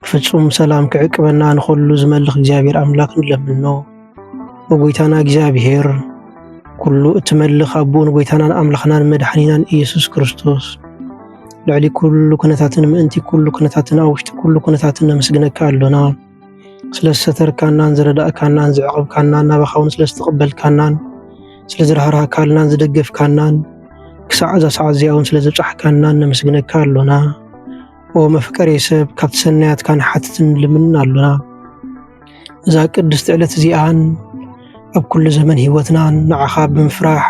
ፍጹም ሰላም ክዕቅበና ንኸሉ ዝመልኽ እግዚኣብሔር ኣምላኽ ንለምኖ። ንጎይታና እግዚኣብሔር ኩሉ እትመልኽ ኣቦኡ ንጎይታናን ኣምላኽናን መድሓኒናን ኢየሱስ ክርስቶስ ልዕሊ ኩሉ ኩነታትን ምእንቲ ኩሉ ኩነታትን ኣብ ውሽጢ ኩሉ ኩነታትን ነመስግነካ ኣሎና ስለ ዝሰተርካናን ዝረዳእካናን ዝዕቕብካናን ናባኻ እውን ስለ ዝተቐበልካናን ስለ ዝረሃርሃካልናን ዝደገፍካናን ክሳዕ እዛ ሰዓት እዚኣ እውን ስለ ዘብፃሕካናን ነመስግነካ ኣሎና ኦ መፍቀሬ ሰብ ካብቲ ሰናያትካ ንሓትትን ልምንን ኣሎና እዛ ቅድስቲ ዕለት እዚኣን ኣብ ኩሉ ዘመን ህይወትናን ንዓኻ ብምፍራሕ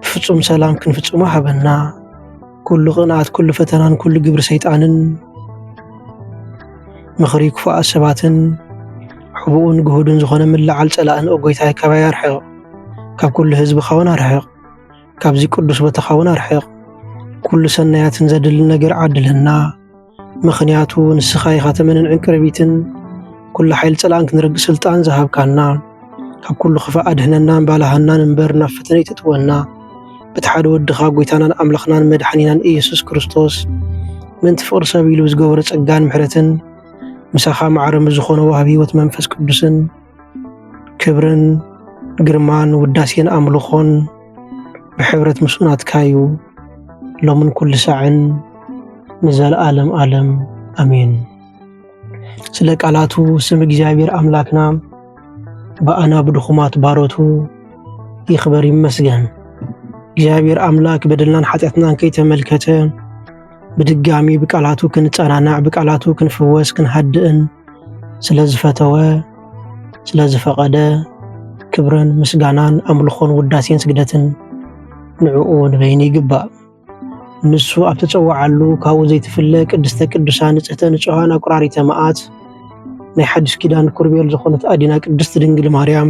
ብፍጹም ሰላም ክንፍጽሞ ሃበና ኩሉ ቅንኣት ኩሉ ፈተናን ኩሉ ግብሪ ሰይጣንን ምኽሪ ክፉኣት ሰባትን ሕቡኡን ግሁድን ዝኾነ ምልዓል ጸላእን ኦጎይታይ ካባይ ኣርሕቕ ካብ ኩሉ ህዝብኻውን ኣርሕቕ ካብዚ ቅዱስ ቦታኻ እውን ኣርሕቕ። ኩሉ ሰናያትን ዘድሊ ነገር ዓድልህና፣ ምኽንያቱ ንስኻ ኢኻ ተመንን ዕንቅርቢትን፣ ኩሉ ሓይል ጸላእን ክንርግ ስልጣን ዝሃብካና። ካብ ኩሉ ክፋእ ኣድህነናን ባላሃናን እምበር ናብ ፈተነ ይተጥወና። በቲ ሓደ ወድኻ ጎይታናን ኣምላኽናን መድሓኒናን ኢየሱስ ክርስቶስ ምእንቲ ፍቕሪ ሰብ ኢሉ ዝገበሮ ጸጋን ምሕረትን ምሳኻ ማዕረ ምስ ዝኾነ ዋህብ ሕይወት መንፈስ ቅዱስን ክብርን ግርማን ውዳሴን ኣምልኾን ብሕብረት ምስ ናትካ እዩ ሎምን ኩሉ ሳዕን ንዘለኣለም ኣለም ኣሜን። ስለ ቃላቱ ስም እግዚኣብሔር ኣምላክና ብኣና ብድኹማት ባሮቱ ይኽበር ይመስገን። እግዚኣብሔር ኣምላክ በደልናን ሓጢኣትናን ከይተመልከተ ብድጋሚ ብቃላቱ ክንጸናናዕ ብቃላቱ ክንፍወስ ክንሃድእን ስለ ዝፈተወ ስለ ዝፈቐደ ክብርን ምስጋናን ኣምልኾን ውዳሴን ስግደትን ንዕኡ ንበይኑ ይግባእ። ንሱ ኣብ ተጸዋዓሉ ካብኡ ዘይትፍለ ቅድስተ ቅዱሳን ንጽሕተ ንጹሃን ኣቁራሪተ መዓት ናይ ሓድሽ ኪዳን ኩርቤል ዝኾነት ኣዲና ቅድስት ድንግል ማርያም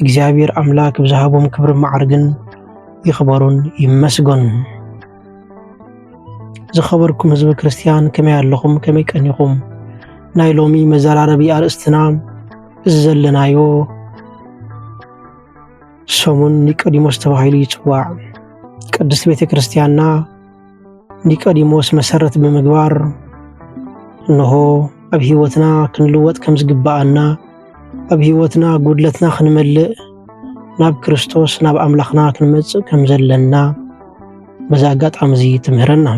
እግዚኣብሔር ኣምላክ ብዝሃቦም ክብሪ መዓርግን ይኽበሩን ይመስገኑ። ዝኸበርኩም ህዝቢ ክርስትያን ከመይ ኣለኹም? ከመይ ቀኒኹም? ናይ ሎሚ መዘራረቢ ኣርእስትና እዚ ዘለናዮ ሰሙን ኒቆዲሞስ ተባሂሉ ይፅዋዕ። ቅድስት ቤተ ክርስትያንና ኒቆዲሞስ መሰረት ብምግባር እንሆ ኣብ ህይወትና ክንልወጥ ከም ዝግብኣና ኣብ ህይወትና ጉድለትና ክንመልእ ናብ ክርስቶስ ናብ ኣምላኽና ክንመጽእ ከም ዘለና በዚ ኣጋጣሚ እዚ ትምህረና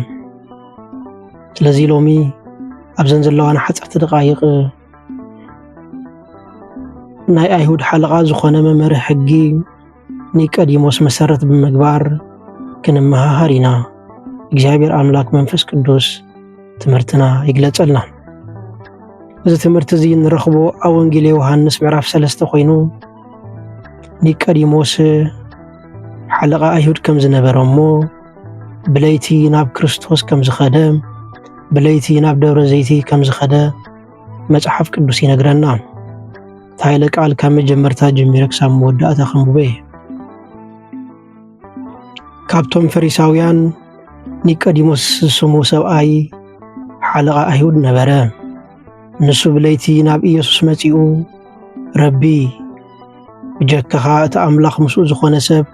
ስለዚ ሎሚ ኣብዘን ዘለዋና ሓፀርቲ ደቃይቅ ናይ ኣይሁድ ሓለቓ ዝኾነ መምህር ሕጊ ኒቀዲሞስ መሰረት ብምግባር ክንመሃሃር ኢና። እግዚኣብሔር ኣምላክ መንፈስ ቅዱስ ትምህርትና ይግለጸልና። እዚ ትምህርቲ እዚ ንረኽቦ ኣብ ወንጌል ዮሃንስ ምዕራፍ ሰለስተ ኮይኑ ኒቀዲሞስ ሓለቓ ኣይሁድ ከም ዝነበረ እሞ ብለይቲ ናብ ክርስቶስ ከም ዝኸደ ብለይቲ ናብ ደብረ ዘይቲ ከም ዝኸደ መጽሓፍ ቅዱስ ይነግረና። ታይለ ቃል ካብ መጀመርታ ጀሚረ ክሳብ መወዳእታ ከንብበ እየ። ካብቶም ፈሪሳውያን ኒቆዲሞስ ዝስሙ ሰብኣይ ሓለቓ ኣይሁድ ነበረ። ንሱ ብለይቲ ናብ ኢየሱስ መጺኡ ረቢ ብጀካኻ እቲ ኣምላኽ ምስኡ ዝኾነ ሰብ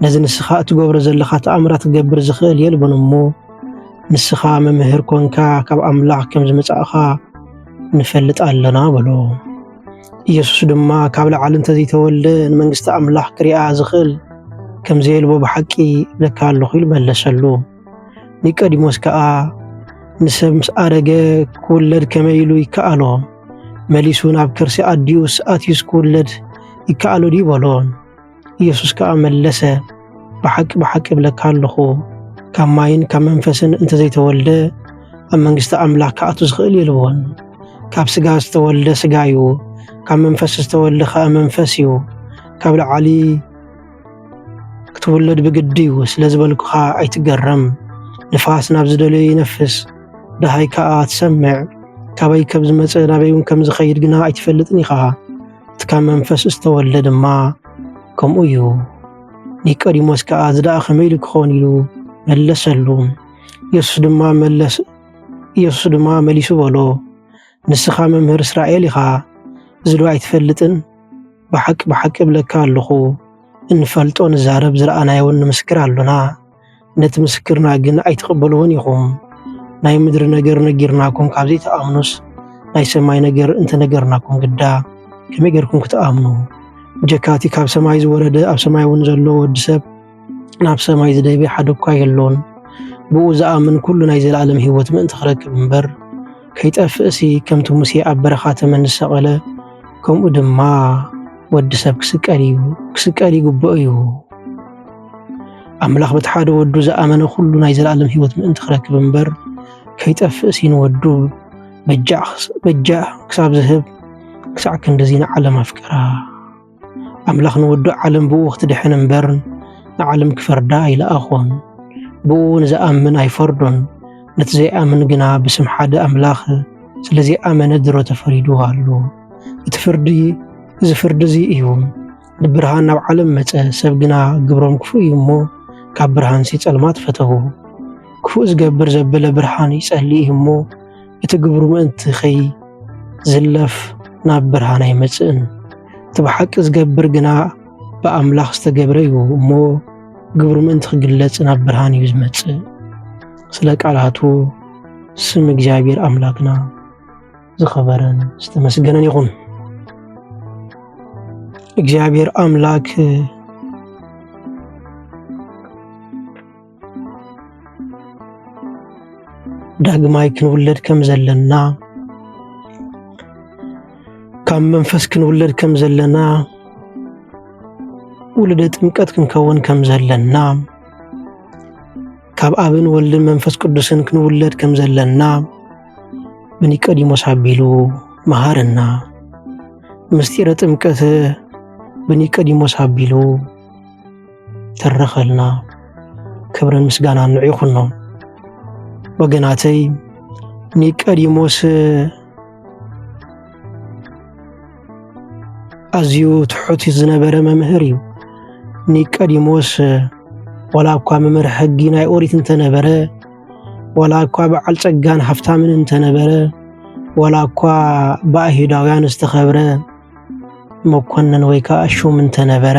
ነዚ ንስኻ እትገብሮ ዘለኻ ተኣምራት ክገብር ዝኽእል የልቦን እሞ ንስኻ መምህር ኮንካ ካብ ኣምላኽ ከም ዝመጻእኻ ንፈልጥ ኣለና በሎ። ኢየሱስ ድማ ካብ ላዕሊ እንተዘይተወልደ ንመንግስቲ ኣምላኽ ክሪኣ ዝኽእል ከም ዘየልቦ ብሓቂ እብለካ ኣለኹ ኢሉ መለሰሉ። ኒቀዲሞስ ከኣ ንሰብ ምስ ኣረገ ክውለድ ከመይ ኢሉ ይከኣሎ? መሊሱ ናብ ከርሲ ኣዲኡስ ኣትዩስ ክውለድ ይከኣሎ ድዩ በሎ። ኢየሱስ ከኣ መለሰ፣ ብሓቂ ብሓቂ እብለካ ኣለኹ፣ ካብ ማይን ካብ መንፈስን እንተዘይተወልደ ኣብ መንግስቲ ኣምላኽ ክኣቱ ዝኽእል የልቦን። ካብ ስጋ ዝተወልደ ስጋ እዩ፣ ካብ መንፈስ ዝተወልደ ከኣ መንፈስ እዩ። ካብ ላዕሊ ክትውለድ ብግዲ እዩ ስለ ዝበልኩኻ ኣይትገረም። ንፋስ ናብ ዝደለዮ ይነፍስ፣ ደሃይ ከኣ ትሰምዕ። ካበይ ከም ዝመጸ ናበይ እውን ከም ዝኸይድ ግና ኣይትፈልጥን ኢኻ። እቲ ካብ መንፈስ ዝተወልደ ድማ ከምኡ እዩ። ኒቆዲሞስ ከኣ እዚ ደኣ ከመይ ኢሉ ክኸውን ኢሉ መለሰሉ። ኢየሱስ ድማ መለስ ኢየሱስ ድማ መሊሱ በሎ ንስኻ መምህር እስራኤል ኢኻ ዝዶ ኣይትፈልጥን ብሓቂ ብሓቂ እብለካ ኣለኹ እንፈልጦ ንዛረብ ዝረኣናዮውን ንምስክር ኣሎና ነቲ ምስክርና ግን ኣይትቕበልዎን ኢኹም ናይ ምድሪ ነገር ነጊርናኩም ካብ ዘይትኣምኑስ ናይ ሰማይ ነገር እንተነገርናኩም ግዳ ከመይ ጌርኩም ክትኣምኑ ብጀካቲ ካብ ሰማይ ዝወረደ ኣብ ሰማይ እውን ዘሎ ወዲ ሰብ ናብ ሰማይ ዝደይበ ሓደ እኳ የሎን። ብኡ ዝኣምን ኩሉ ናይ ዘለኣለም ህይወት ምእንቲ ክረክብ እምበር ከይጠፍእሲ ከምቲ ሙሴ ኣብ በረኻ ተመን ዝሰቐለ ከምኡ ድማ ወዲ ሰብ ክስቀል እዩ ክስቀል ይግብኦ እዩ። ኣምላኽ በቲ ሓደ ወዱ ዝኣመነ ኩሉ ናይ ዘለኣለም ህይወት ምእንቲ ክረክብ እምበር ከይጠፍእሲ ንወዱ በጃ ክሳብ ዝህብ ክሳዕ ክንድዚ ንዓለም ኣፍቀራ። ኣምላኽ ንውዱእ ዓለም ብእኡ ክትድሕን እምበር ንዓለም ክፈርዳ ኣይለኣኾን። ብእኡ ንዝኣምን ኣይፈርዶን፣ ነቲ ዘይኣምን ግና ብስም ሓደ ኣምላኽ ስለ ዘይኣመነ ድሮ ተፈሪዱ ኣሎ። እቲ ፍርዲ እዚ ፍርዲ እዚ እዩ፣ ንብርሃን ናብ ዓለም መጸ፣ ሰብ ግና ግብሮም ክፉእ እዩ እሞ ካብ ብርሃንሲ ጸልማት ፈተዉ። ክፉእ ዝገብር ዘበለ ብርሃን ይጸሊ እዩ እሞ እቲ ግብሩ ምእንቲ ኸይዝለፍ ናብ ብርሃን ኣይመጽእን። እቲ ብሓቂ ዝገብር ግና ብኣምላኽ ዝተገብረ እዩ እሞ ግብሩ ምእንቲ ክግለጽ ናብ ብርሃን እዩ ዝመጽእ። ስለ ቃላቱ ስም እግዚኣብሔር ኣምላክና ዝኸበረን ዝተመስገነን ይኹን። እግዚኣብሔር ኣምላክ ዳግማይ ክንውለድ ከም ዘለና ካብ መንፈስ ክንውለድ ከም ዘለና ውልደ ጥምቀት ክንከውን ከም ዘለና ካብ ኣብን ወልድን መንፈስ ቅዱስን ክንውለድ ከም ዘለና ብኒቆዲሞስ ኣቢሉ መሃረና። ምስጢረ ጥምቀት ብኒቆዲሞስ ኣቢሉ ተረኸልና ክብርን ምስጋናን ንዑ ይኹኖም ወገናተይ ኒቀዲሞስ ኣዝዩ ትሑት ዝነበረ መምህር እዩ ኒቀዲሞስ ወላ እኳ መምህር ሕጊ ናይ ኦሪት እንተነበረ ወላ እኳ በዓል ጸጋን ሃብታምን እንተነበረ ወላ እኳ ብኣይሁዳውያን ዝተኸብረ መኮንን ወይ ከዓ ሹም እንተነበረ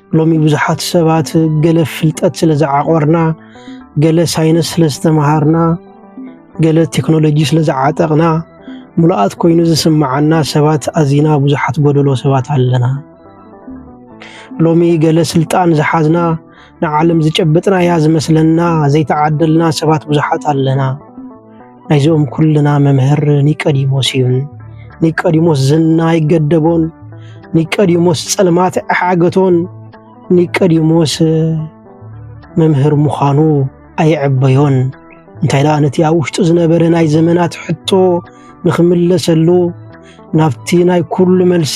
ሎሚ ብዙሓት ሰባት ገለ ፍልጠት ስለ ዝዓቆርና፣ ገለ ሳይንስ ስለ ዝተምሃርና፣ ገለ ቴክኖሎጂ ስለ ዝዓጠቕና ምሉኣት ኮይኑ ዝስምዓና ሰባት ኣዚና ብዙሓት ጎደሎ ሰባት ኣለና። ሎሚ ገለ ስልጣን ዝሓዝና ንዓለም ዝጨበጥናያ ዝመስለና ዘይተዓደልና ሰባት ብዙሓት ኣለና። ናይዞኦም ኩልና መምህር ኒቀዲሞስ እዩን ኒቀዲሞስ ዝና ይገደቦን ኒቀዲሞስ ጸልማት ኣሓገቶን ኒቀዲሞስ መምህር ምዃኑ ኣይዕበዮን እንታይ ደኣ ነቲ ኣብ ውሽጡ ዝነበረ ናይ ዘመናት ሕቶ ንኽምለሰሉ ናብቲ ናይ ኩሉ መልሲ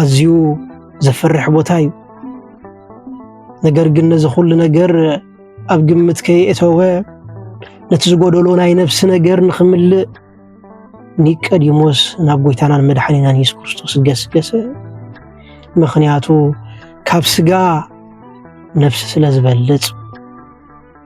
ኣዝዩ ዘፍርሕ ቦታ እዩ። ነገር ግን ነዚ ኩሉ ነገር ኣብ ግምት ከየእተወ ነቲ ዝጎደሎ ናይ ነፍሲ ነገር ንኽምልእ ኒቀዲሞስ ናብ ጎይታናን መድሓኒናን የሱስ ክርስቶስ ገስገሰ። ምክንያቱ ካብ ስጋ ነፍሲ ስለ ዝበልጽ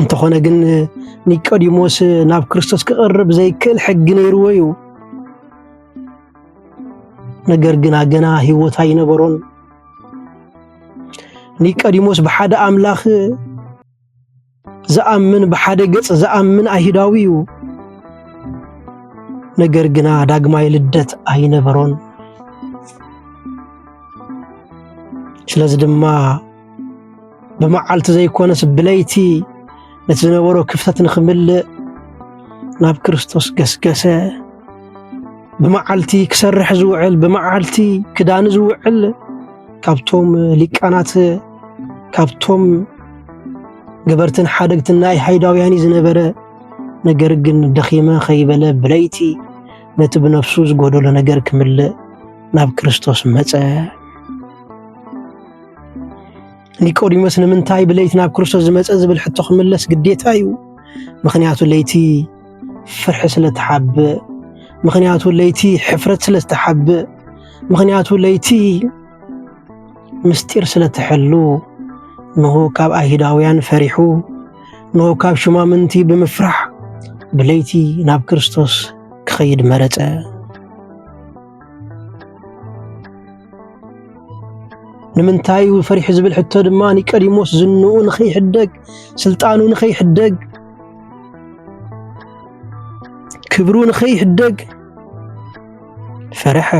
እንተኾነ ግን ኒቆዲሞስ ናብ ክርስቶስ ክቐርብ ዘይክእል ሕጊ ነይርዎ እዩ። ነገር ግና ገና ህይወት ኣይነበሮን። ኒቆዲሞስ ብሓደ ኣምላኽ ዝኣምን ብሓደ ገጽ ዝኣምን ኣይሁዳዊ እዩ። ነገር ግና ዳግማይ ልደት ኣይነበሮን። ስለዚ ድማ ብመዓልቲ ዘይኮነስ ብለይቲ ነቲ ዝነበሮ ክፍተት ንኽምልእ ናብ ክርስቶስ ገስገሰ። ብመዓልቲ ክሰርሕ ዝውዕል ብመዓልቲ ክዳን ዝውዕል ካብቶም ሊቃናት ካብቶም ገበርትን ሓደግትን ናይ ሃይዳውያን ዝነበረ ነገር ግን ደኺመ ከይበለ ብለይቲ ነቲ ብነፍሱ ዝጎደሎ ነገር ክምልእ ናብ ክርስቶስ መጸ። ኒቆዲሞስ ንምንታይ ብለይቲ ናብ ክርስቶስ ዝመፀ ዝብል ሕቶ ክምለስ ግዴታ እዩ። ምክንያቱ ለይቲ ፍርሒ ስለ ተሓብእ፣ ምክንያቱ ለይቲ ሕፍረት ስለ ዝተሓብእ፣ ምክንያቱ ለይቲ ምስጢር ስለ ትሕሉ ንሆ ካብ ኣይሁዳውያን ፈሪሑ ንሆ ካብ ሹማምንቲ ብምፍራሕ ብለይቲ ናብ ክርስቶስ ክኸይድ መረፀ። ንምንታይ ፈሪሑ ዝብል ሕቶ ድማ ኒቀዲሞስ ዝንኡ ንኸይሕደግ ስልጣኑ ንኸይሕደግ ክብሩ ንኸይሕደግ ፈርሐ።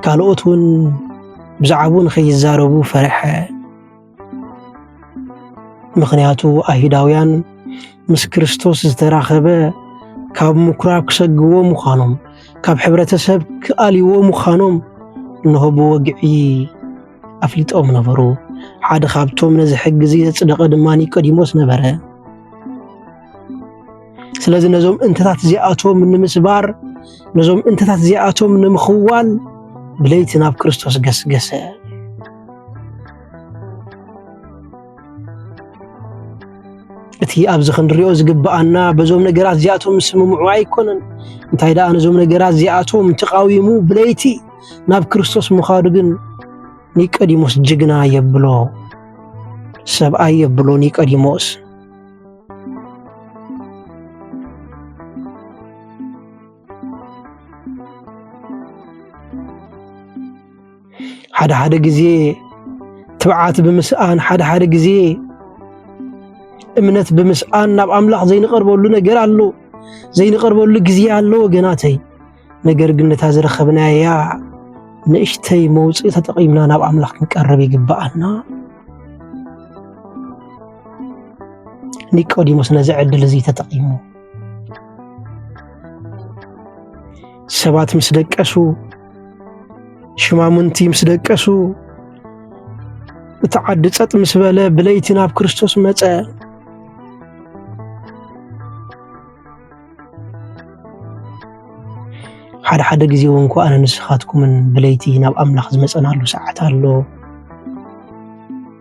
ካልኦት እውን ብዛዕባኡ ንኸይዛረቡ ፈርሐ። ምኽንያቱ ኣይሁዳውያን ምስ ክርስቶስ ዝተራኸበ ካብ ምኵራብ ክሰግዎ ምዃኖም፣ ካብ ሕብረተሰብ ክኣልይዎ ምዃኖም እንሆ ብወግዒ ኣፍሊጦም ነበሩ። ሓደ ካብቶም ነዚ ሕጊ እዚ ዘጽደቐ ድማ ኒቆዲሞስ ነበረ። ስለዚ ነዞም እንተታት እዚኣቶም ንምስባር ነዞም እንተታት እዚኣቶም ንምኽዋል ብለይቲ ናብ ክርስቶስ ገስገሰ። እቲ ኣብዚ ክንሪኦ ዝግብኣና በዞም ነገራት እዚኣቶም ስምምዑ ኣይኮነን። እንታይ ደኣ ነዞም ነገራት እዚኣቶም ተቃዊሙ ብለይቲ ናብ ክርስቶስ ምዃዱ ግን ኒቆዲሞስ ጅግና የብሎ፣ ሰብኣይ የብሎ ኒቆዲሞስ። ሓደ ሓደ ግዜ ትብዓት ብምስኣን ሓደ ሓደ ግዜ እምነት ብምስኣን ናብ ኣምላኽ ዘይንቐርበሉ ነገር ኣሎ፣ ዘይንቐርበሉ ግዜ ኣሎ ወገናተይ። ነገር ግን ነታ ዝረኸብናያ ንእሽተይ መውፅኢ ተጠቒምና ናብ ኣምላኽ ክንቀርብ ይግብኣና። ኒቆዲሞስ ነዚ ዕድል እዚ ተጠቒሙ ሰባት ምስ ደቀሱ ሽማሙንቲ ምስ ደቀሱ እቲ ዓዲ ጸጥ ምስ በለ ብለይቲ ናብ ክርስቶስ መጸ። ሓደ ሓደ ግዜ እውን እኳ ኣነ ንስኻትኩምን ብለይቲ ናብ ኣምላኽ ዝመፀናሉ ሰዓት ኣሎ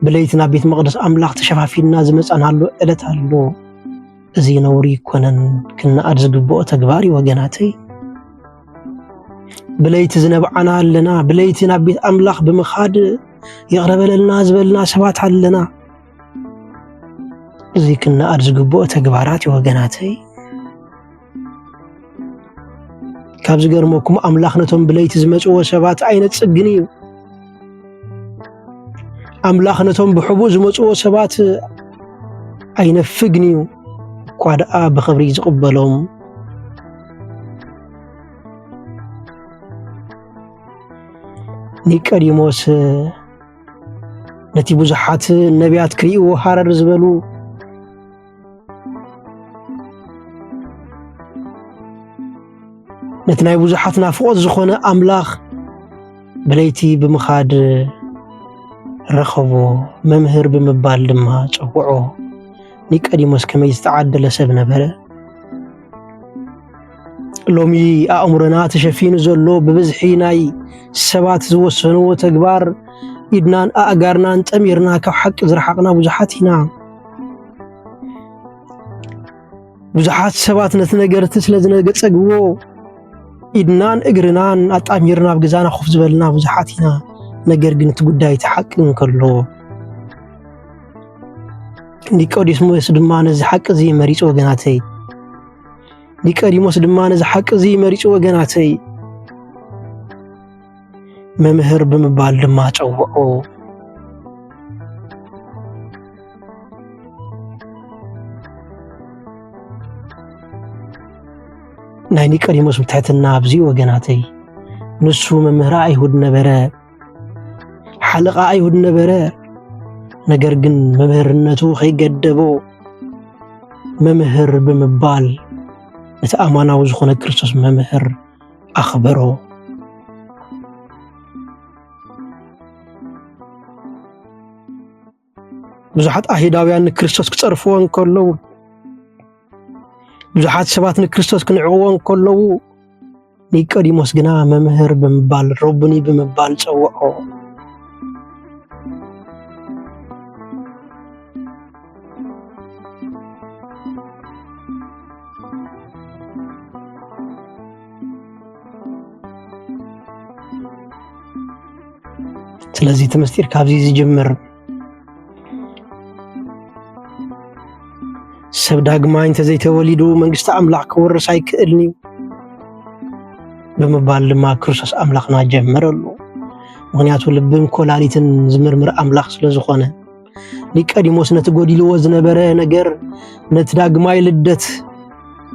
ብለይቲ ናብ ቤት መቕደስ ኣምላኽ ተሸፋፊንና ዝመፀናሉ ዕለት ኣሎ እዚ ነውሪ ይኮነን ክነኣድ ዝግብኦ ተግባር እዩ ወገናተይ ብለይቲ ዝነብዓና ኣለና ብለይቲ ናብ ቤት ኣምላኽ ብምኻድ ይቕረበለልና ዝበልና ሰባት ኣለና እዚ ክነኣድ ዝግብኦ ተግባራት እዩ ወገናተይ። ካብ ዝገርመኩም ኣምላኽ ነቶም ብለይቲ ዝመጽዎ ሰባት ኣይነጽግን እዩ። ኣምላኽ ነቶም ብሕቡእ ዝመጽዎ ሰባት ኣይነፍግን እዩ። እኳ ደኣ ብኽብሪ ዝቕበሎም ኒቀዲሞስ ነቲ ብዙሓት ነቢያት ክርእይዎ ሃረር ዝበሉ ነቲ ናይ ብዙሓት ናፍቖት ዝኾነ ኣምላኽ ብለይቲ ብምኻድ ረኸቦ መምህር ብምባል ድማ ጸውዖ። ኒቆዲሞስ ከመይ ዝተዓደለ ሰብ ነበረ! ሎሚ ኣእምሮና ተሸፊኑ ዘሎ ብብዝሒ ናይ ሰባት ዝወሰንዎ ተግባር ኢድናን ኣእጋርናን ጠሚርና ካብ ሓቂ ዝረሓቕና ብዙሓት ኢና። ብዙሓት ሰባት ነቲ ነገርቲ ስለ ዝነገጸግዎ ኢድናን እግርናን ኣጣሚርና ኣብ ገዛና ኮፍ ዝበልና ብዙሓት ኢና። ነገር ግን እቲ ጉዳይ እቲ ሓቂ እንከሎ ኒቆዲሞስ ድማ ነዚ ሓቂ እዚ መሪጹ ወገናተይ ኒቀዲሞስ ድማ ነዚ ሓቂ እዚ መሪጹ ወገናተይ መምህር ብምባል ድማ ጸውዖ። ናይ ኒቀዲሞስ ብትሕትና ኣብዚ ወገናተይ ንሱ መምህር ኣይሁድ ነበረ። ሓለቓ ኣይሁድ ነበረ። ነገር ግን መምህርነቱ ከይገደቦ መምህር ብምባል ነቲ ኣማናዊ ዝኾነ ክርስቶስ መምህር ኣኽበሮ። ብዙሓት ኣይሁዳውያን ንክርስቶስ ክጸርፍዎ እንከለዉ፣ ብዙሓት ሰባት ንክርስቶስ ክንዕቕዎ እንከለዉ፣ ኒቆዲሞስ ግና መምህር ብምባል ረቡኒ ብምባል ጸውዖ። ስለዚ እቲ ምስጢር ካብዚ ዝጅምር ሰብ ዳግማይ እንተዘይተወሊዱ መንግስቲ ኣምላኽ ክወርስ ኣይክእልን እዩ ብምባል ድማ ክርስቶስ ኣምላኽና ጀመረሉ ምክንያቱ ልብን ኮላሊትን ዝምርምር ኣምላኽ ስለ ዝኾነ ኒቀዲሞስ ነቲ ጎዲልዎ ዝነበረ ነገር ነቲ ዳግማይ ልደት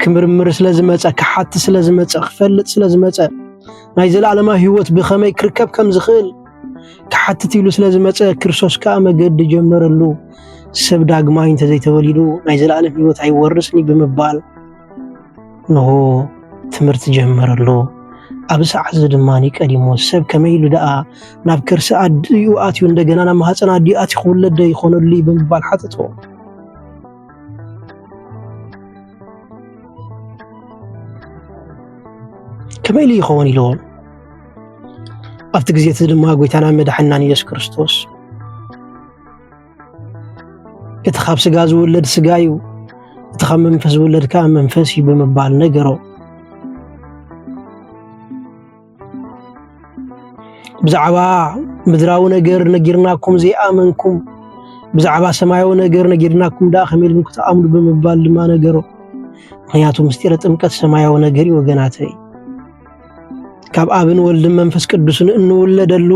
ክምርምር ስለ ዝመጸ ክሓቲ ስለ ዝመጸ ክፈልጥ ስለ ዝመጸ ናይ ዘለኣለማዊ ህይወት ብኸመይ ክርከብ ከም ዝኽእል ክሓትት ኢሉ ስለ ዝመጸ ክርስቶስ ከዓ መገዲ ጀመረሉ። ሰብ ዳግማይ እንተዘይተወሊዱ ናይ ዘለኣለም ህይወት ኣይወርስን ብምባል ንሆ ትምህርቲ ጀመረ ኣሎ። ኣብዚ ሰዓት እዚ ድማ ኒቀዲሞ ሰብ ከመይ ኢሉ ደኣ ናብ ከርሲ ኣዲኡ ኣትዩ እንደገና ናብ ማህፀን ኣዲኡ ኣትዩ ክውለድ ዶ ይኾነሉ ብምባል ሓተቶ። ከመይ ኢሉ ይኸውን ኢልዎ። ኣብቲ ግዜ እቲ ድማ ጎይታና መድሓናን ኢየሱስ ክርስቶስ እቲ ካብ ስጋ ዝውለድ ስጋ እዩ፣ እቲ ካብ መንፈስ ዝውለድ ከዓ መንፈስ እዩ ብምባል ነገሮ። ብዛዕባ ምድራዊ ነገር ነጊርናኩም ዘይኣመንኩም፣ ብዛዕባ ሰማያዊ ነገር ነጊርናኩም ደኣ ከመይ ኢልኩም ክትኣምኑ ብምባል ድማ ነገሮ። ምክንያቱ ምስጢረ ጥምቀት ሰማያዊ ነገር እዩ ወገናተይ። ካብ ኣብን ወልድን መንፈስ ቅዱስን እንውለደሉ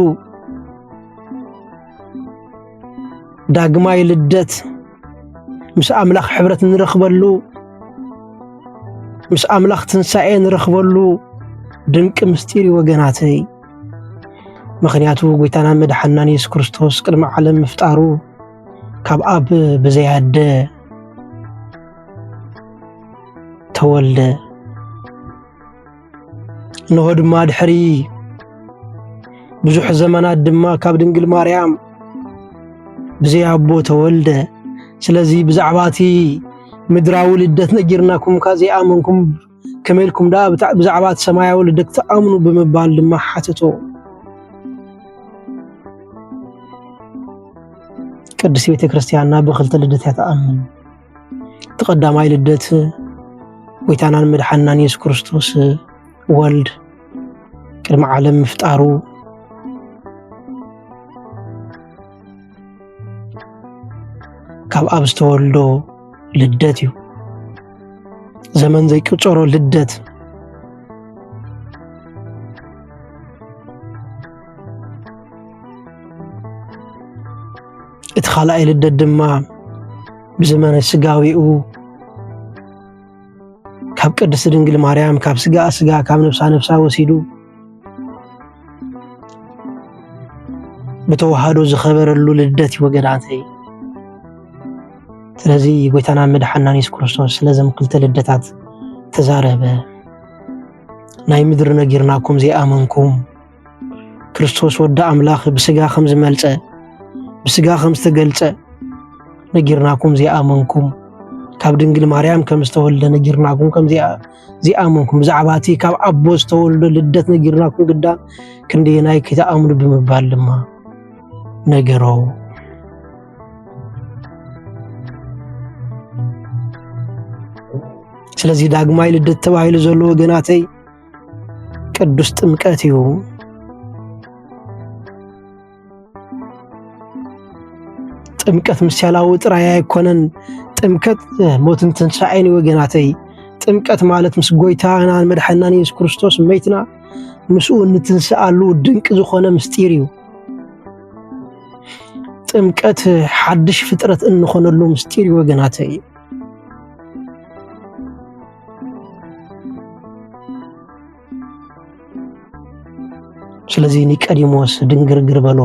ዳግማይ ልደት ምስ ኣምላኽ ሕብረት ንረኽበሉ ምስ ኣምላኽ ትንሣኤ ንረኽበሉ ድንቂ ምስጢር እዩ ወገናተይ። ምኽንያቱ ጎይታና መድሓናን የሱስ ክርስቶስ ቅድሚ ዓለም ምፍጣሩ ካብ ኣብ ብዘያደ ተወልደ። እንሆ ድማ ድሕሪ ብዙሕ ዘመናት ድማ ካብ ድንግል ማርያም ብዘይ ኣቦ ተወልደ። ስለዚ ብዛዕባ እቲ ምድራዊ ልደት ነጊርናኩም እኳ ዘይኣመንኩም ከመይ ኢልኩም ደኣ ብዛዕባ እቲ ሰማያዊ ልደት ትኣምኑ ብምባል ድማ ሓተቶ። ቅድስት ቤተ ክርስቲያንና ብክልተ ልደት እያ ትኣምን። እቲ ቀዳማይ ልደት ጎይታናን መድሓናን የሱስ ክርስቶስ ወልድ ቅድሚ ዓለም ምፍጣሩ ካብ ኣብ ዝተወልዶ ልደት እዩ ዘመን ዘይቅፀሮ ልደት እቲ ኻልኣይ ልደት ድማ ብዘመነ ስጋዊኡ ካብ ቅድስቲ ድንግል ማርያም ካብ ስጋ ስጋ ካብ ነብሳ ነብሳ ወሲዱ ብተዋህዶ ዝኸበረሉ ልደት እዩ ወገናተይ። ስለዚ ጎይታና መድሓናን የሱስ ክርስቶስ ስለዘም ክልተ ልደታት ተዛረበ። ናይ ምድሪ ነጊርናኩም ዘይኣመንኩም ክርስቶስ ወዲ ኣምላኽ ብስጋ ከም ዝመልጸ ብስጋ ከም ዝተገልጸ ነጊርናኩም ዘይኣመንኩም ካብ ድንግል ማርያም ከም ዝተወልደ ነጊርናኩም ከም ዘይኣመንኩም ብዛዕባ እቲ ካብ ኣቦ ዝተወልዶ ልደት ነጊርናኩም ግዳ ክንደየናይ ከይተኣምኑ ብምባል ድማ ነገሮ ስለዚህ ዳግማይ ልደት ተባሂሉ ዘሎ ወገናተይ ቅዱስ ጥምቀት እዩ። ጥምቀት ምሳሌያዊ ጥራይ ኣይኮነን። ጥምቀት ሞትን ትንሣኤን ወገናተይ። ጥምቀት ማለት ምስ ጎይታናን መድሓናን የሱስ ክርስቶስ መይትና ምስኡ እንትንስኣሉ ድንቂ ዝኾነ ምስጢር እዩ። ጥምቀት ሓድሽ ፍጥረት እንኾነሉ ምስጢር እዩ ወገናተይ። ስለዚ ኒቀዲሞስ ድንግርግር በሎ።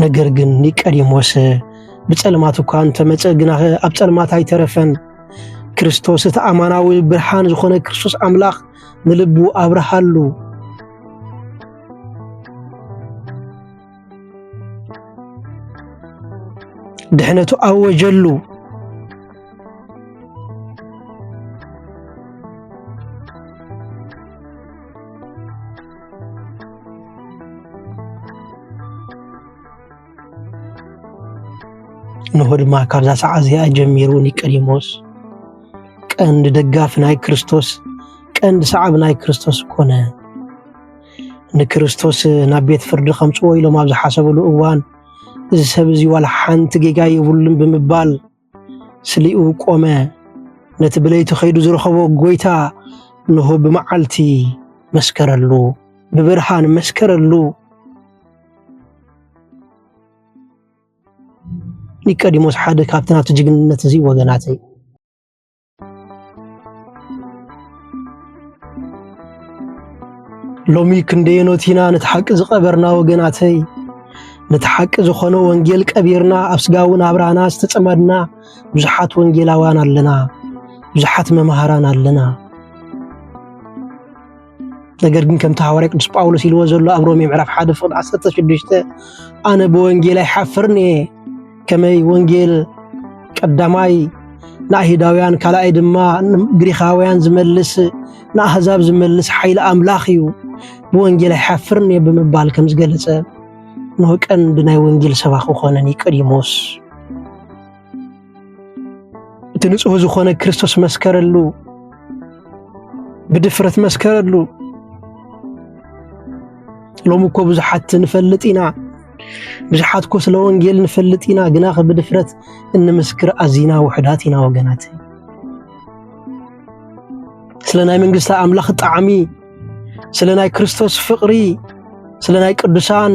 ነገር ግን ኒቀዲሞስ ብጸልማት እኳ እንተመጸ ግና ኣብ ጸልማት ኣይተረፈን። ክርስቶስ እቲ ኣማናዊ ብርሃን ዝኾነ ክርስቶስ ኣምላኽ ንልቡ ኣብርሃሉ። ድሕነቱ ኣወጀሉ። እንሆ ድማ ካብዛ ሰዓ እዚኣ ጀሚሩ ኒቀዲሞስ ቀንዲ ደጋፊ ናይ ክርስቶስ ቀንዲ ሰዓቢ ናይ ክርስቶስ ኮነ። ንክርስቶስ ናብ ቤት ፍርዲ ከምጽዎ ኢሎም ኣብ ዝሓሰብሉ እዋን እዚ ሰብ እዚ ዋላ ሓንቲ ጌጋ የብሉን ብምባል ስሊኡ ቆመ። ነቲ ብለይቲ ከይዱ ዝረኸቦ ጎይታ እንሆ ብመዓልቲ መስከረሉ፣ ብብርሃን መስከረሉ። ኒቀዲሞስ ሓደ ካብቲ ናብቲ ጅግንነት እዚ ወገናት እዩ። ሎሚ ክንደየኖት ኢና ነቲ ሓቂ ዝቐበርና ወገናተይ ነቲ ሓቂ ዝኾነ ወንጌል ቀቢርና ኣብ ስጋዊ ናብራና ዝተጸመድና ብዙሓት ወንጌላውያን ኣለና ብዙሓት መምሃራን ኣለና ነገር ግን ከምቲ ሃዋርያ ቅዱስ ጳውሎስ ኢልዎ ዘሎ ኣብ ሮሜ ምዕራፍ 1 ፍቕዲ 16 ኣነ ብወንጌል ኣይሓፍርን እየ ከመይ ወንጌል ቀዳማይ ንኣይሁዳውያን ካልኣይ ድማ ግሪኻውያን ዝመልስ ንኣህዛብ ዝመልስ ሓይሊ ኣምላኽ እዩ ብወንጌል ኣይሓፍርን እየ ብምባል ከም ዝገለጸ ንሆ ቀንዲ ናይ ወንጌል ሰባኺ ኮነ ኒቆዲሞስ እቲ ንጹህ ዝኾነ ክርስቶስ መስከረሉ፣ ብድፍረት መስከረሉ። ሎሚ እኮ ብዙሓት ንፈልጥ ኢና፣ ብዙሓት እኮ ስለ ወንጌል ንፈልጥ ኢና፣ ግና ብድፍረት እንምስክር ኣዚና ውሕዳት ኢና ወገናት። ስለ ናይ መንግስቲ ኣምላኽ ጣዕሚ፣ ስለ ናይ ክርስቶስ ፍቕሪ፣ ስለ ናይ ቅዱሳን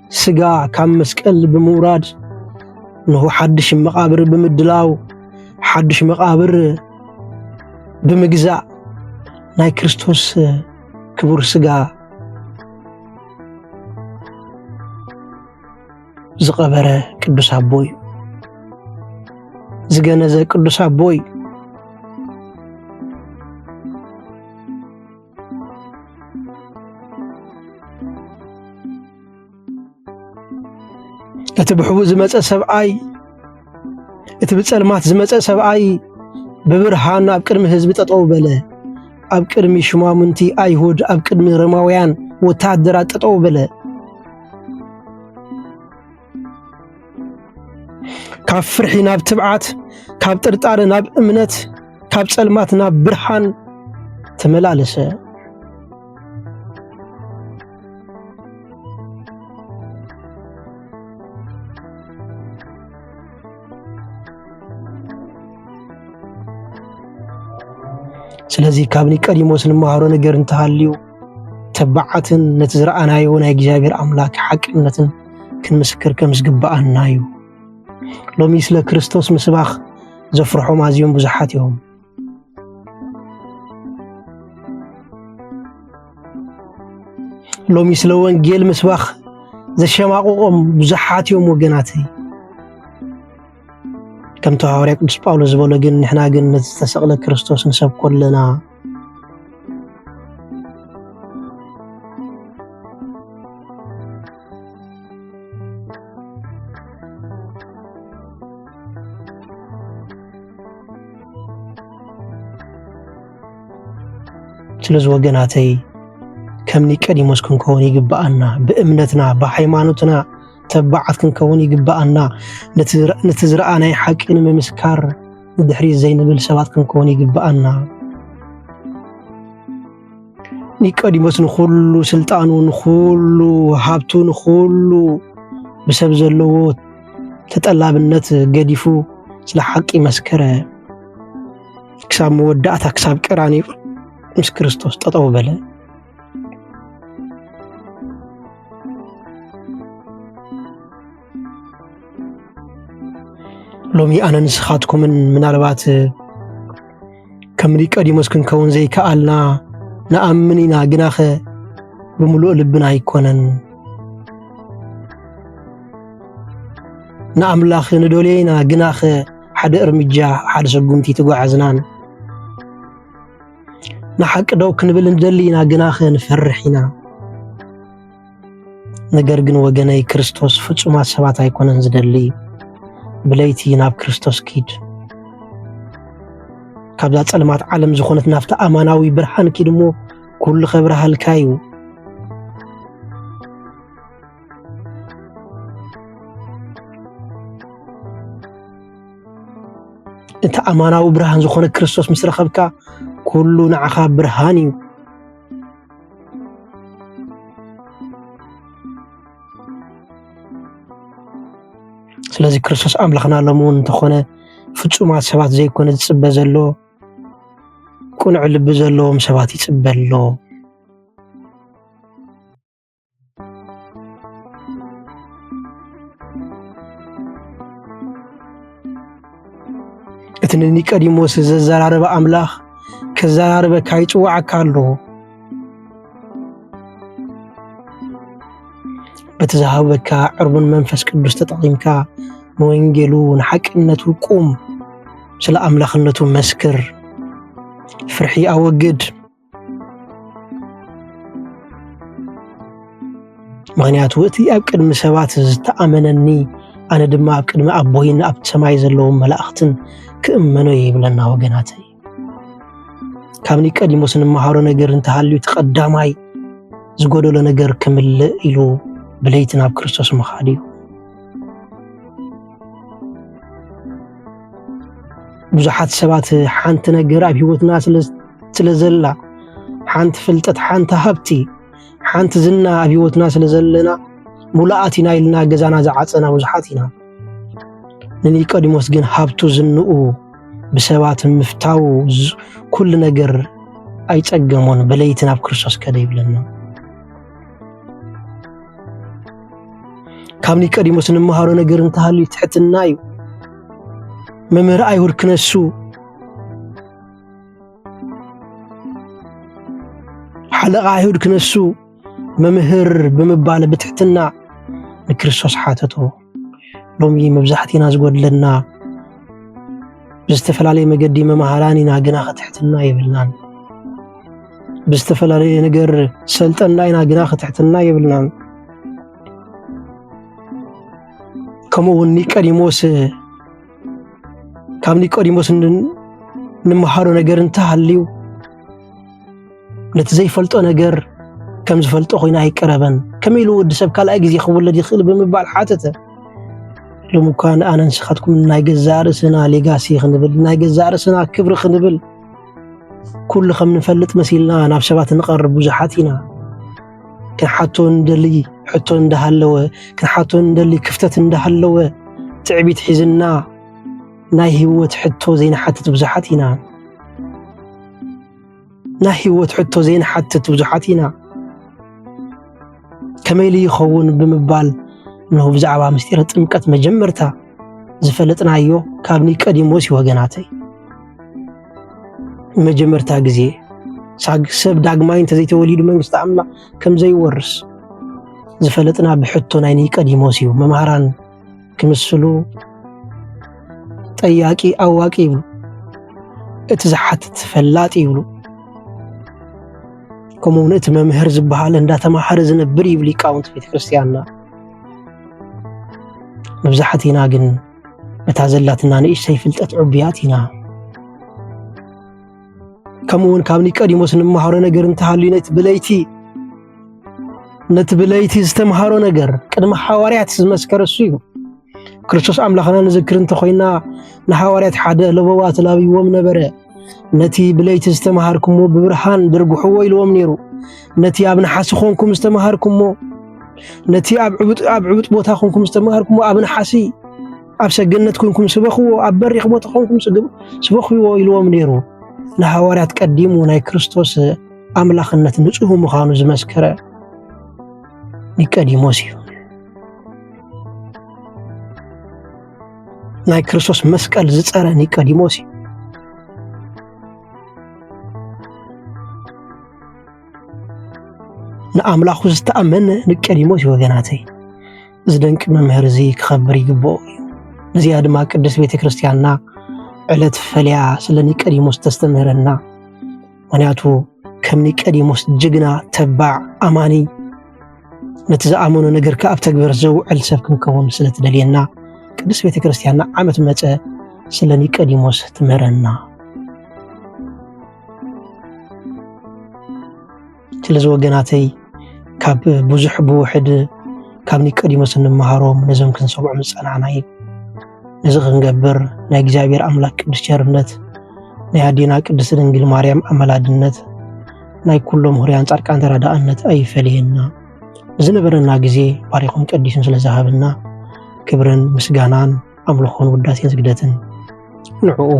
ስጋ ካብ መስቀል ብምውራድ ንሁ ሓድሽ መቓብር ብምድላው ሓድሽ መቓብር ብምግዛእ ናይ ክርስቶስ ክቡር ስጋ ዝቐበረ ቅዱስ ኣቦ እዩ ዝገነዘ ቅዱስ ኣቦ እዩ እቲ ብሕቡእ ዝመፀ ሰብኣይ እቲ ብፀልማት ዝመፀ ሰብኣይ ብብርሃን ኣብ ቅድሚ ህዝቢ ጠጠው በለ። ኣብ ቅድሚ ሽማሙንቲ ኣይሁድ፣ ኣብ ቅድሚ ሮማውያን ወታደራት ጠጠው በለ። ካብ ፍርሒ ናብ ትብዓት፣ ካብ ጥርጣረ ናብ እምነት፣ ካብ ጸልማት ናብ ብርሃን ተመላለሰ። ስለዚ ካብ ኒቀዲሞስ ንመሃሮ ነገር እንተሃልዩ ተባዓትን ነቲ ዝረኣናዮ ናይ እግዚኣብሔር ኣምላክ ሓቅነትን ክንምስክር ከም ዝግብኣና እዩ። ሎሚ ስለ ክርስቶስ ምስባኽ ዘፍርሖም ኣዝዮም ብዙሓት እዮም። ሎሚ ስለ ወንጌል ምስባኽ ዘሸማቕቖም ብዙሓት እዮም ወገናተይ። ከምቲ ሃዋርያ ቅዱስ ጳውሎስ ዝበሎ ግን ንሕና ግን ነቲ ዝተሰቕለ ክርስቶስ ንሰብኮ ኣለና ስለዚ ወገናተይ ከም ኒቀዲሞስ ክንከውን ይግብኣና ብእምነትና ብሃይማኖትና ተባዓት ክንከውን ይግብኣና። ነቲ ዝረኣናይ ሓቂ ንምምስካር ንድሕሪት ዘይንብል ሰባት ክንከውን ይግብኣና። ኒቆዲሞስ ንኹሉ ስልጣኑ፣ ንኹሉ ሃብቱ፣ ንኹሉ ብሰብ ዘለዎ ተጠላብነት ገዲፉ ስለ ሓቂ መስከረ። ክሳብ መወዳእታ ክሳብ ቀራንዮ ምስ ክርስቶስ ጠጠው በለ። ሎሚ ኣነ ንስኻትኩምን ምናልባት ከምኒ ቀዲሞስ ክንከውን ዘይከኣልና ንኣምን ኢና ግናኸ ብምሉእ ልብና ኣይኮነን ንኣምላኽ ንደልዮ ኢና ግናኸ ሓደ እርምጃ ሓደ ሰጉምቲ ተጓዓዝናን ንሓቂ ደው ክንብል ንደሊ ኢና፣ ግናኸ ንፈርሕ ኢና። ነገር ግን ወገነይ ክርስቶስ ፍጹማት ሰባት ኣይኮነን ዝደሊ። ብለይቲ ናብ ክርስቶስ ኪድ፣ ካብዛ ጸልማት ዓለም ዝኾነት ናብቲ ኣማናዊ ብርሃን ኪድ እሞ ኩሉ ኸብርሃልካ እዩ። እቲ ኣማናዊ ብርሃን ዝኾነ ክርስቶስ ምስ ረኸብካ ኩሉ ንዓኻ ብርሃን እዩ። ስለዚ ክርስቶስ ኣምላኽና ሎሚ እውን እንተኾነ ፍፁማት ሰባት ዘይኮነ ዝፅበ ዘሎ ቅኑዕ ልቢ ዘለዎም ሰባት ይፅበ ኣሎ። እቲ ንኒቀዲሞስ ዘዘራረበ ኣምላኽ ከዘራርበካ ይጽዋዓካ ኣሎ። በቲ ዝሃበካ ዕርቡን መንፈስ ቅዱስ ተጠቒምካ ንወንጌሉ ንሓቅነቱ ቁም፣ ስለ ኣምላኽነቱ መስክር፣ ፍርሒ ኣወግድ። ምክንያቱ እቲ ኣብ ቅድሚ ሰባት ዝተኣመነኒ ኣነ ድማ ኣብ ቅድሚ ኣቦይን ኣብ ሰማይ ዘለዎም መላእኽትን ክእመኖ ይብለና ወገናት ካብ ኒቀዲሞስ እንመሃሮ ነገር እንተሃልዩ እቲ ቀዳማይ ዝጎደሎ ነገር ክምልእ ኢሉ ብለይቲ ናብ ክርስቶስ ምኻድ እዩ ብዙሓት ሰባት ሓንቲ ነገር ኣብ ሂወትና ስለ ስለ ዘላ ሓንቲ ፍልጠት ሓንቲ ሃብቲ ሓንቲ ዝና ኣብ ሂወትና ስለ ዘለና ሙሉኣት ኢና ኢልና ገዛና ዝዓፀና ብዙሓት ኢና። ንኒቆዲሞስ ግን ሃብቱ ዝንኡ ብሰባት ምፍታው ኩሉ ነገር ኣይፀገሞን በለይቲ ናብ ክርስቶስ ከደ ይብለና። ካብ ኒቆዲሞስ እንመሃሮ ነገር እንተሃልዩ ትሕትና እዩ። መምህር ኣይሁድ ክነሱ ሓለቓ ኣይሁድ ክነሱ መምህር ብምባል ብትሕትና ንክርስቶስ ሓተቶ ሎሚ መብዛሕቲና ዝጎድለና ብዝተፈላለየ መገዲ መምሃራን ኢና ግና ክትሕትና የብልናን ብዝተፈላለየ ነገር ሰልጠና ኢና ግና ክትሕትና የብልናን ከምኡ እውን ኒቀዲሞስ ካብ ኒቆዲሞስ እንመሃሮ ነገር እንተሃልዩ ነቲ ዘይፈልጦ ነገር ከም ዝፈልጦ ኮይኑ ኣይቀረበን ከመይ ኢሉ ወዲ ሰብ ካልኣይ ግዜ ክውለድ ይኽእል ብምባል ሓተተ ሎም እኳ ንኣነ ንስኻትኩም ናይ ገዛእ ርእስና ሌጋሲ ክንብል ናይ ገዛእ ርእስና ክብሪ ክንብል ኩሉ ከም ንፈልጥ መሲልና ናብ ሰባት ንቐርብ ብዙሓት ኢና ክንሓቶ እንደሊ ሕቶ እንዳሃለወ ክንሓቶ እንደሊ ክፍተት እንዳሃለወ ትዕቢት ሒዝና ናይ ህይወት ሕቶ ዘይንሓትት ብዙሓት ኢና ናይ ህይወት ሕቶ ዘይንሓትት ብዙሓት ኢና ከመይ ኢሉ ይኸውን ብምባል እነሆ ብዛዕባ ምስጢረ ጥምቀት መጀመርታ ዝፈለጥናዮ ካብ ኒቀዲሞስ እዩ ወገናተይ መጀመርታ ግዜ ሰብ ዳግማይ እንተዘይተወሊዱ መንግስቲ ኣምላኽ ከም ዘይወርስ ዝፈለጥና ብሕቶ ናይ ኒቀዲሞስ እዩ። መምሃራን ክምስሉ ጠያቂ ኣዋቂ ይብሉ፣ እቲ ዝሓትት ፈላጥ ይብሉ፣ ከምኡውን እቲ መምህር ዝበሃል እንዳተማሃረ ዝነብር ይብል ሊቃውንቲ ቤተ ክርስቲያንና። መብዛሕቲና ግን ነታ ዘላትና ንእሽተይ ፍልጠት ዕቡያት ኢና። ከምኡ እውን ካብ ኒቀዲሞስ እንመሃሮ ነገር እንተሃልዩ ነቲ ብለይቲ ነቲ ብለይቲ ዝተምሃሮ ነገር ቅድሚ ሓዋርያት ዝመስከረ እሱ እዩ። ክርስቶስ ኣምላኽና ንዝክር እንተኾይና ንሓዋርያት ሓደ ለበዋ ተላብይዎም ነበረ። ነቲ ብለይቲ ዝተምሃርኩሞ ብብርሃን ድርግሕዎ ኢልዎም ነይሩ። ነቲ ኣብ ነሓሲ ኾንኩም ዝተምሃርኩሞ ነቲ ኣብ ዕቡጥ ቦታ ኾንኩም ዝተምሃርኩሞ ኣብ ነሓሲ ኣብ ሰገነት ኮንኩም ስበኽዎ፣ ኣብ በሪኽ ቦታ ኾንኩም ስበኽዎ ኢልዎም ነይሩ። ንሃዋርያት ቀዲሙ ናይ ክርስቶስ ኣምላኽነት ንጹህ ምዃኑ ዝመስከረ ኒቀዲሞስ እዩ። ናይ ክርስቶስ መስቀል ዝጸረ ኒቆዲሞስ እዩ ንኣምላኹ ዝተኣመነ ኒቆዲሞስ እዩ ወገናተይ እዚ ደንቂ መምህር እዚ ክኸብር ይግብኦ እዩ ነዚኣ ድማ ቅድስት ቤተ ክርስቲያንና ዕለት ፈልያ ስለ ኒቆዲሞስ ተስተምህረና ምክንያቱ ከም ኒቀዲሞስ ጅግና ተባዕ ኣማኒ ነቲ ዝኣመኖ ነገር ከ ኣብ ተግበር ዘውዕል ሰብ ክንከውን ስለ ትደልየና ቅዱስ ቤተ ክርስቲያንና ዓመት መፀ ስለ ኒቀዲሞስ ትምህረና ስለዚ ወገናተይ ካብ ብዙሕ ብውሕድ ካብ ኒቀዲሞስ እንመሃሮም ነዞም ክንሰምዖም ዝፀናዕና እዩ እዚ ክንገብር ናይ እግዚኣብሔር ኣምላክ ቅዱስ ቸርነት ናይ ኣዴና ቅድስት ድንግል ማርያም ኣመላድነት ናይ ኩሎም ሁርያን ጻድቃን ተራዳእነት ኣይፈለየና። ብዝነበረና ግዜ ባሪኹን ቀዲሱን ስለ ዝሃበና ክብርን ምስጋናን ኣምልኾን ውዳሴን ስግደትን ንዕኡ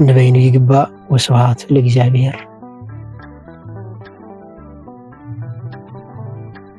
ንበይኑ ይግባእ። ወስብሃት ለእግዚኣብሔር።